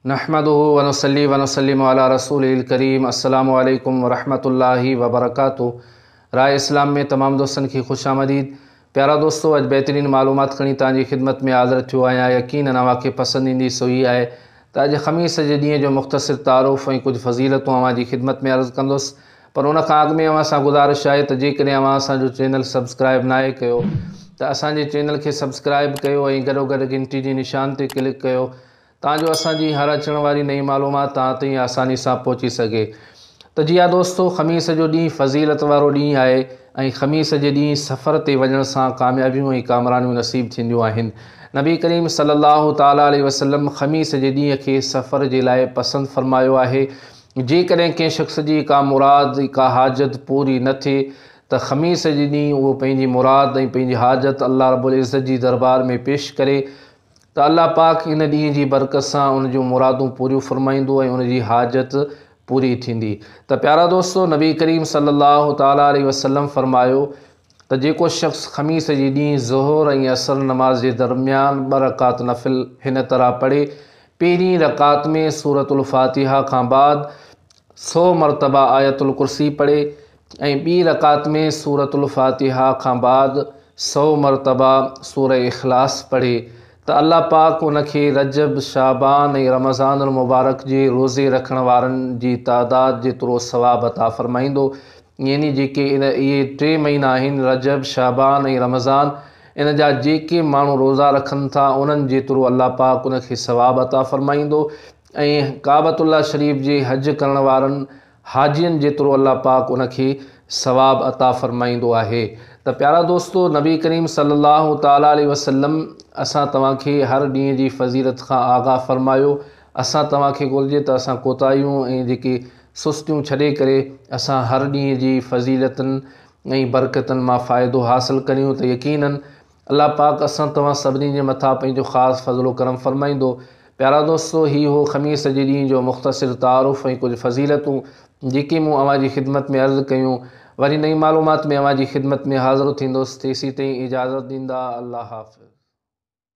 نحمده ونصلي ونسلم علي رسوله الڪريم السلام عليڪم ورحمة الله وبرڪاته راء اسلام ۾ تمام دوستن کي خوش آمديد پيارا دوستو اڄ بهترين معلومات کڻي توهان جي خدمت ۾ حاضر ٿيو آهيان يقينا اوهان کي پسند ايندي سو هي آهي ته اڄ خميس جي ڏينهن جو مختصر تعارف ۽ ڪجهه فضيلتون اوهان جي خدمت ۾ عرض ڪندس پر ان کان اڳ ۾ اوهان سان گذارش آهي ته جيڪڏهن اوهان اسان جو چينل سبسڪرائب ناهي ڪيو ته اسان جي چينل کي سبسڪرائب ڪيو ۽ گڏو گڏ گهنٽي جي نشان تي ڪلڪ ڪيو تان جو اسان جي هر اچڻ واري نئين معلومات توهان تائين آساني سان پهچي سگهي. ته جي ها دوستو خميس جو ڏينهن فضيلت وارو ڏينهن آهي ۽ خميس جي ڏينهن سفر تي وڃڻ سان ڪاميابيون ۽ ڪامرانيون نصيب ٿينديون آهن. نبي ڪريم صلي الله تعالٰي عليه وسلم خميس جي ڏينهن کي سفر جي لاء پسند فرمايو آهي. جيڪڏهن ڪنهن شخص جي ڪا مراد، ڪا حاجت پوري نه ٿئي ته خميس جي ڏينهن اهو پنهنجي مراد ۽ پنهنجي حاجت الله رب العزت جي دربار ۾ پيش ڪري، ته الله پاڪ ان ڏينهن جي برڪت سان ان جون مرادون پوريون فرمائيندو ۽ ان جي حاجت پوري ٿيندي ته پيارا دوستو نبي ڪريم صلي الله تعالٰي عليه وسلم فرمايو ته جيڪو شخص خميس جي ڏينهن ظهر ۽ عصر نماز جي درميان ٻه رڪعت نفل هن طرح پڙهي پهرين رڪعت ۾ سورة الفاتحه کان بعد سو مرتبه آيت الڪرسي پڙهي ۽ ٻي رڪعت ۾ سورة الفاتحه کان بعد سؤ مرتبه سوره اخلاص پڙهي ته الله پاڪ ان کي رجب، شعبان ۽ رمضان المبارڪ جي روزي رکڻ وارن جي تعداد جيترو ثواب عطا فرمائيندو يعني جيڪي ان اهي ٽي مهينا آهن رجب، شعبان ۽ رمضان ان جا جيڪي ماڻهو روزا رکن ٿا انهن جيترو الله پاڪ ان کي ثواب عطا فرمائيندو ۽ ڪعبة الله شريف جي حج ڪرڻ وارن حاجين جيترو الله پاڪ ان کي ثواب عطا فرمائيندو آهي ته پيارا دوستو نبي ڪريم صلي الله تعالٰي عليه وسلم اسان توهان کي هر ڏينهن جي فضيلت کان آگاهه فرمايو اسان توهان کي گهرجي ته اسان ڪوتاهيون ۽ جيڪي سستيون ڇڏي ڪري اسان هر ڏينهن جي فضيلتن ۽ برڪتن مان فائدو حاصل ڪريون ته يقينن الله پاڪ اسان توهان سڀني جي مٿان پنهنجو خاص فضل و ڪرم فرمائيندو. پيارا دوستو! هي هو خميس جي ڏينهن جو مختصر تعارف ۽ ڪجهه فضيلتون جيڪي مون اوهان جي خدمت ۾ عرض ڪيون. وري نئين معلومات ۾ اوهان جي خدمت ۾ حاضر ٿيندس. تيسيتائين اجازت ڏيندا. الله حافظ.